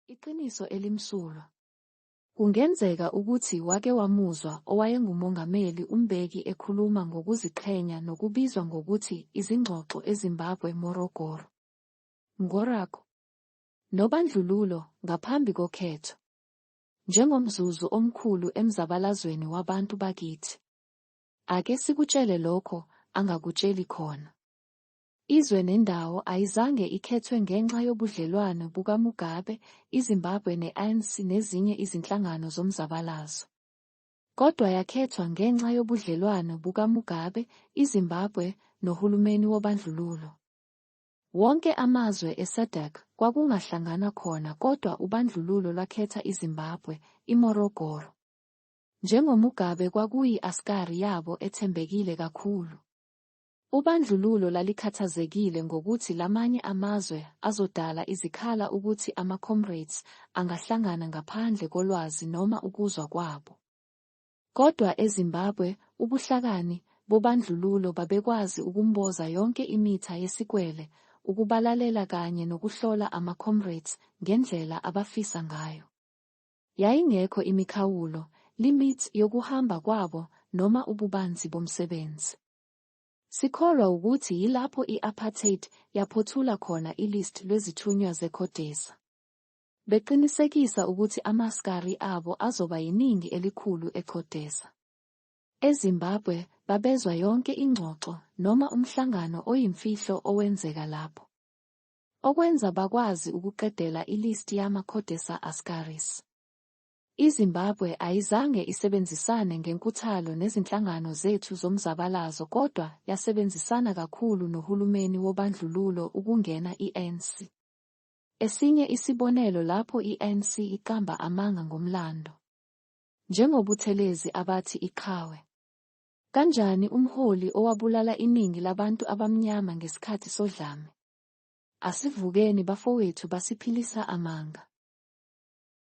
Iqiniso elimsulwa. Kungenzeka ukuthi wake wamuzwa owayengumongameli uMbeki ekhuluma ngokuziqhenya nokubizwa ngokuthi izingxoxo eZimbabwe Morogoro. Ngorako. Nobandlululo ngaphambi kokhetho. Njengomzuzu omkhulu emzabalazweni wabantu bakithi. Ake sikutshele lokho angakutsheli khona. Izwe nendawo ayizange ikhethwe ngenxa yobudlelwano bukaMugabe, iZimbabwe ne-ANC nezinye izinhlangano zomzabalazo. Kodwa yakhethwa ngenxa yobudlelwano bukaMugabe, iZimbabwe, nohulumeni wobandlululo. Wonke amazwe eSADC kwakungahlanganwa khona kodwa ubandlululo lwakhetha iZimbabwe, iMorogoro. NjengoMugabe kwakuyi-askari yabo ethembekile kakhulu. Ubandlululo lalikhathazekile ngokuthi lamanye amazwe azodala izikhala ukuthi ama-comrades angahlangana ngaphandle kolwazi noma ukuzwa kwabo. Kodwa eZimbabwe, ubuhlakani bobandlululo babekwazi ukumboza yonke imitha yesikwele, ukubalalela kanye nokuhlola ama-comrades ngendlela abafisa ngayo. Yayingekho imikhawulo, limits, yokuhamba kwabo noma ububanzi bomsebenzi. Sikholwa wukuthi yilapho i-apartheid yaphothula khona i-list lwezithunywa ze-CODESA, beqinisekisa ukuthi ama-askari abo azoba yiningi elikhulu e-CODESA. E-Zimbabwe, babezwa yonke ingxoxo noma umhlangano oyimfihlo owenzeka lapho, okwenza bakwazi ukuqedela i-list yama-CODESA askaris. IZimbabwe ayizange isebenzisane ngenkuthalo nezinhlangano zethu zomzabalazo kodwa yasebenzisana kakhulu nohulumeni wobandlululo ukungena i-ANC. Esinye isibonelo lapho i-ANC iqamba amanga ngomlando. NjengoButhelezi abathi iqhawe. Kanjani umholi owabulala iningi labantu abamnyama ngesikhathi sodlame? Asivukeni bafowethu basiphilisa amanga.